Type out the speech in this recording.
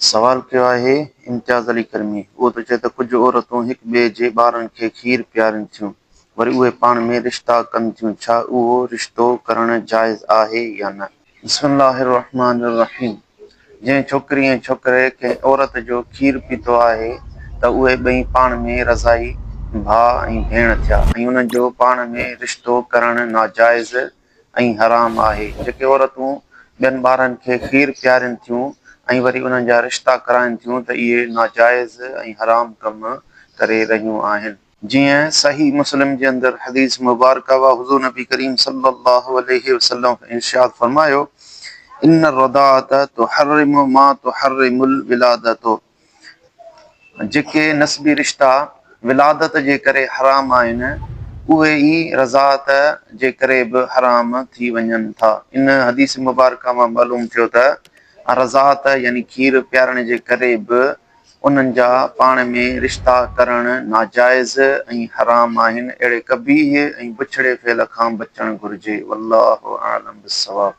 سوال ڪيو آهي امتياز علي ڪرمي، اهو ته چئي ته ڪجهه عورتون هڪ ٻئي جي ٻارن کي کير پيارين ٿيون، وري اهي پاڻ ۾ رشتا ڪن ٿيون، ڇا اهو رشتو ڪرڻ جائز آهي يا نه؟ بسم الله الرحمٰن الرحيم جنهن ڇوڪري ۽ ڇوڪري ڪنهن عورت جو کير پيتو آهي ته اهي ٻئي پاڻ ۾ رضائي ڀاء ۽ ڀيڻ ٿيا ۽ انهن جو پاڻ ۾ رشتو ڪرڻ ناجائز ۽ حرام آهي. جيڪي عورتون ٻين ٻارن کي کير پيارين ٿيون ۽ وري انهن جا رشتا ڪرائين ٿيون ته اهي ناجائز ۽ حرام ڪم ڪري رهيون آهن. جيئن صحيح مسلم جي اندر حديث مبارڪه اها حضور نبي ڪريم صلي الله عليه وسلم ارشاد فرمايو، ان الرضاعة تحرم ما تحرم الولادة. جيڪي نسبي رشتا ولادت جي ڪري حرام آهن، اهي ئي رضاعت جي ڪري به حرام ٿي وڃن ٿا. ان حديث مبارڪه مان معلوم ٿيو ته رضاعت يعني کير پيارڻ جي ڪري به انهن جا پاڻ ۾ رشتا ڪرڻ ناجائز ۽ حرام آهن، اهڙي قبيح ۽ بڇڙي فعل کان بچڻ گهرجي. والله اعلم بالصواب.